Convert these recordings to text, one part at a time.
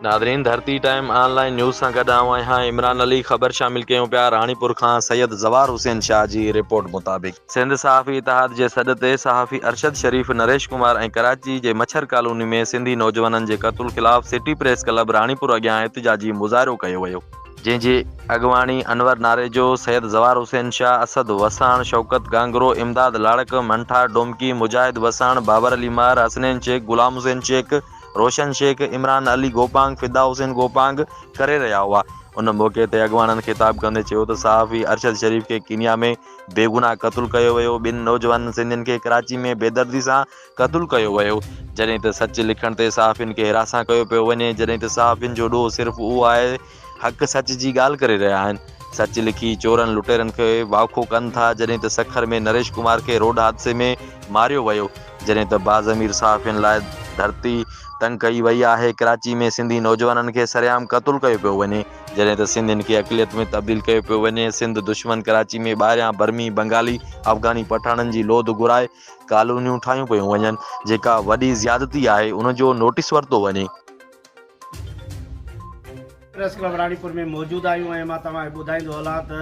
ناظرين Dharti time online news سان گڏ آئون آهيان عمران علي خبر شامل ڪيون پيا راڻيپور کان سيد زوار حسين شاهه جي رپورٽ مطابق. سنڌ صحافي اتحاد جي سڏ تي صحافي ارشد شريف نريش ڪمار ۽ ڪراچي جي مڇر ڪالوني ۾ سنڌي نوجوانن جي قتل خلاف سٽي پريس ڪلب راڻيپور اڳيان احتجاجي مظاهرو ڪيو ويو جنهن جي اڳواڻي انور ناريجو، سيد زوار حسين شاهه، اسد وساڻ، شوڪت گانگرو، امداد لاڙڪ، منٺار ڊومڪي، مجاهد وساڻ، بابر علي مهر، حسنين شيخ، غلام حسين شيخ، روشن شيخ، عمران علي گوپانگ، فدا حسين گوپانگ ڪري رهيا هئا. ان موقعي تي اڳواڻن خطاب ڪندي چيو ته صحافي ارشد شريف کي ڪينيا ۾ بيگناهه قتل ڪيو ويو، ٻن نوجوانن سنڌين کي ڪراچي ۾ بيدردي سان قتل ڪيو ويو، جڏهن ته سچ لکڻ تي صحافين کي هراسان ڪيو پيو وڃي، جڏهن ته صحافين جو ڏوهه صرف اهو آهي حق سچ جي ڳالهه ڪري رهيا آهن. سچ لکي چورن لٽيرن کي واکو ڪن ٿا جڏهن ته سکر ۾ نريش ڪمار کي روڊ حادثي ۾ ماريو ويو جڏهن ته باضمير صحافين لاء ڌرتي تنگ ڪئي وئي آهي ڪراچي ۾ سنڌي نوجوانن کي سرعام قتل ڪيو پيو وڃي جڏهن ته سنڌين کي اقليت ۾ تبديل ڪيو پيو وڃي سنڌ دشمن ڪراچي ۾ ٻاهريان برمي بنگالي افغاني پٺاڻن جي لوڌ گهرائي ڪالونيون ٺاهيون پيون وڃن جيڪا وڏي زيادتي آهي ان جو نوٽيس ورتو وڃي. پريس ڪلب راڻيپور ۾ موجود آهيون ۽ مان توهان کي ٻڌائيندو هلان ته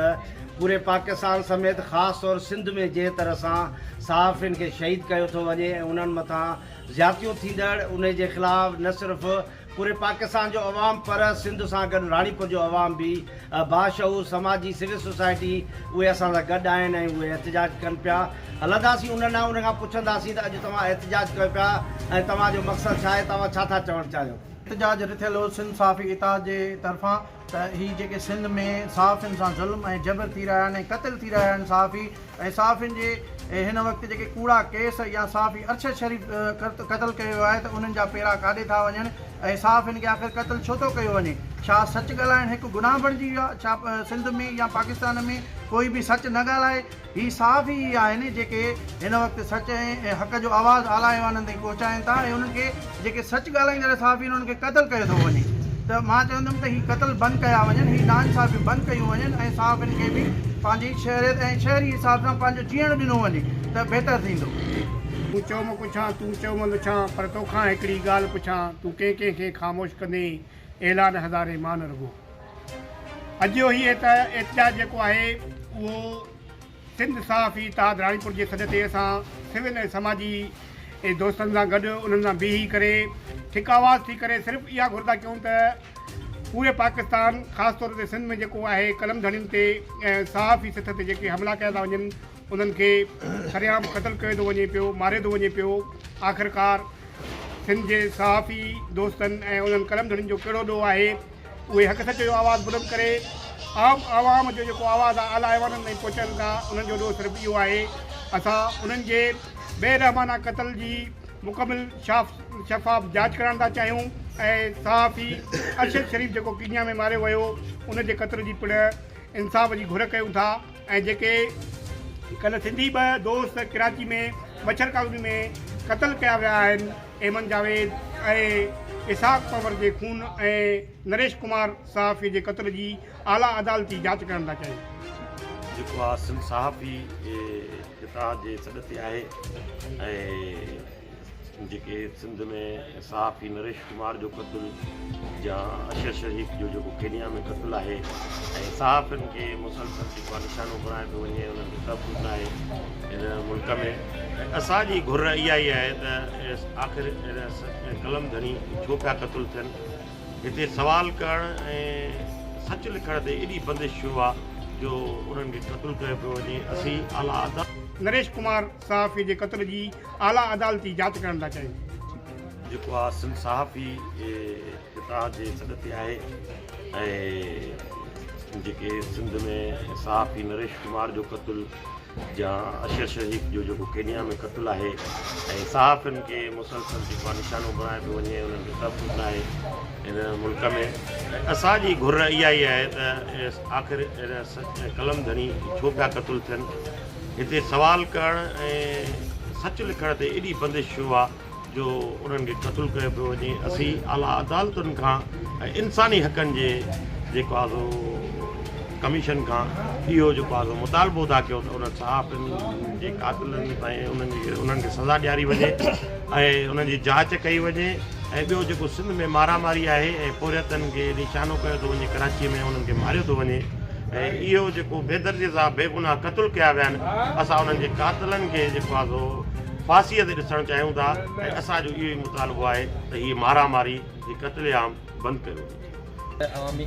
پوري پاڪستان سميت خاص طور سنڌ ۾ جنهن طرح سان صحافين کي شهيد ڪيو ٿو وڃي ۽ انهن مٿان زيادتيون ٿيندڙ انهي جي خلاف نه صرف پوري پاڪستان جو عوام پر سنڌ سان گڏ راڻيپور جو عوام به باشعور سماجي سول سوسائٽي اهي اسان سان گڏ آهن ۽ اهي احتجاج ڪن پيا هلنداسين انهن ڏانهن انهن کان پڇنداسين ته اڄ توهان احتجاج ڪيو پيا ۽ توهان جو مقصد ڇا آهي توهان ڇا ٿا چوڻ چاهيو. احتجاج رٿيل هو سنڌ صحافي اتحاد جي طرفان ته هي جيڪي سنڌ ۾ صحافين سان ظلم ۽ جبر ٿي رهيا آهن ۽ قتل ٿي رهيا آهن صحافي ۽ صحافين جي هن وقت جيڪي ڪوڙا ڪيس يا صحافي ارشد شريف قتل ڪيو ويو آهي ته انهن جا پيرا ڪاڏي ٿا وڃن ۽ صحافين کي آخر قتل ڇو ٿو ڪيو وڃي ڇا سچ ڳالهائڻ هڪ گناهه بڻجي ويو آهي ڇا سنڌ ۾ يا پاڪستان ۾ ڪوئي به سچ نه ڳالهائي هي صحافي ئي آهن جيڪي هن وقت سچ ۽ حق جو آواز اعليٰ ايوانن تائين پهچائين ٿا ۽ انهن کي جيڪي سچ ڳالهائيندڙ صحافي آهن انهن کي قتل ڪيو ٿو وڃي ته مان چوندم ته هي قتل بند ڪيا وڃن هي ناانصافيون بند ڪيون وڃن ۽ صحافين کي به پنهنجي شهريت ۽ شهري حساب سان پنهنجو جيئڻ ڏنو وڃي ته بهتر ٿيندو. مون چيو مان پڇان تون چيو مان لڇان پر توکان هڪڙي ڳالهه پڇان تون ڪنهن ڪنهن کي خاموش ڪندين اعلان هزارين مان نه رڳو اڄ جو هي احتجاج جيڪو آهي اهو سنڌ صحافي اتحاد راڻيپور جي سڏ تي اسان سول ۽ سماجي دوستن سان گڏ انهن سان بيهي ڪري هڪ آواز ٿي ڪري صرف اها گهر ٿا ڪيون ته پوري پاڪستان خاص طور تي سنڌ ۾ جيڪو آهي قلم ڌڻين تي ۽ صحافي سٿ تي جيڪي حملا ڪيا ٿا وڃن انهن کي سرعام قتل ڪيو ٿو وڃي پيو ماريو ٿو وڃي پيو آخرڪار سنڌ جي صحافي دوستن ۽ انهن قلم ڌڻين جو ڪهڙو ڏوهه آهي اهي حق سچ جو آواز بلند ڪري عام عوام جو جيڪو آواز آهي اعليٰ ايوانن تائين پهچائن ٿا انهن جو ڏوهه صرف اهو آهي اسان انهن جي بي رحمانه قتل جي مڪمل شفاف جاچ ڪرائڻ ٿا چاهيون ۽ صحافي ارشد شريف جيڪو ڪينيا ۾ ماريو ويو ان جي قتل جي پڻ انصاف جي گهر ڪيون ٿا ۽ جيڪي ڪلهه سنڌي ٻه دوست ڪراچي ۾ مڇر ڪالوني ۾ قتل ڪيا ويا آهن ايمن جاويد ۽ اسحاق پنور جي خون ۽ نريش ڪمار صحافي جي قتل جي اعليٰ عدالتي جاچ ڪرڻ لاء چيو. جيڪو آء سنڌ صحافي اتحاد جي سڏ تي آهي ۽ جيڪي سنڌ ۾ صحافي نريش ڪمار جو قتل يا اشر شريف جو جيڪو ڪينيا ۾ قتل آهي ۽ صحافين کي مسلسل جيڪو آهي نشانو بڻايو پيو وڃي انهن کي تحفظ ناهي هن ملڪ ۾ اسان جي گهر اها ئي آهي ته آخر اهڙا قلم ڌڻي ڇو پيا قتل ٿين؟ هتي سوال ڪرڻ ۽ سچ لکڻ تي ايڏي بندش ڇو آ جو انهن کي قتل ڪيو پيو وڃي؟ اسين اعليٰ عدالت. نريش ڪمار صحافي جي قتل جي اعليٰ عدالتي جاچ ڪرڻ ٿا چاهيون. جيڪو آ سنڌ صحافي اتحاد جي سڏ تي آهي ۽ جيڪي سنڌ ۾ صحافي نريش ڪمار جو قتل. جا اشر شريف جو جيڪو ڪينيا ۾ قتل آهي ۽ صحافين کي مسلسل جيڪو آهي نشانو بڻايو پيو وڃي انهن کي تحفظ نه آهي ان ملڪ ۾ ۽ اسان جي گهر اها ئي آهي ته آخر ان قلم ڌڻي ڇو پيا قتل ٿين هتي سوال ڪرڻ ۽ سچ لکڻ تي ايڏي بندش ڇو آهي جو انهن کي قتل ڪيو پيو وڃي اسين اعليٰ عدالتن کان ۽ انساني حقن جي جيڪو آ سو ڪميشن کان اهو جيڪو آ سو مطالبو ٿا ڪيون ته انهن صحافين جي قاتلن ۽ انهن جي انهن کي سزا ڏياري وڃي ۽ انهن جي جاچ ڪئي وڃي ۽ ٻيو جيڪو سنڌ ۾ مارا ماري آهي ۽ پورهيتن کي نشانو ڪيو ٿو وڃي ڪراچي ۾ انهن کي ماريو ٿو وڃي ۽ اهو جيڪو بيدردي سان بيگناهه قتل ڪيا ويا آهن اسان انهن جي قاتلن کي جيڪو آ سو ڦاسيء تي ڏسڻ چاهيون ٿا ۽ اسان جو اهو ئي مطالبو آهي ته هيء مارا ماري، هي قتل عام بند ڪيو وڃي. عوامي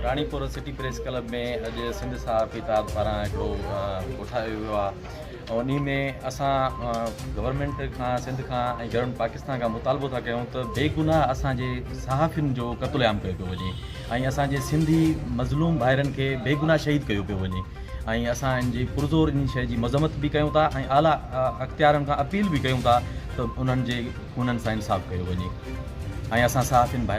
راڻيپور سٽي پريس ڪلب ۾ اڄ سنڌ صحافي اتحاد پاران هڪڙو ڪوٺايو ويو آهي ۽ انهي ۾ اسان گورنمينٽ کان سنڌ کان ۽ گورنمينٽ پاڪستان کان مطالبو ٿا ڪيون ته بيگناهه اسان جي صحافين جو قتل عام ڪيو پيو وڃي ۽ اسان جي سنڌي مظلوم ڀائرن کي بيگناهه شهيد ڪيو پيو وڃي ۽ اسان ان جي پرزور انهي شيء جي مذمت به ڪيون ٿا ۽ اعليٰ اختيارن کان اپيل به ڪيون ٿا ته انهن جي انهن سان انصاف ڪيو وڃي ۽ اسان صحافين ڀائرن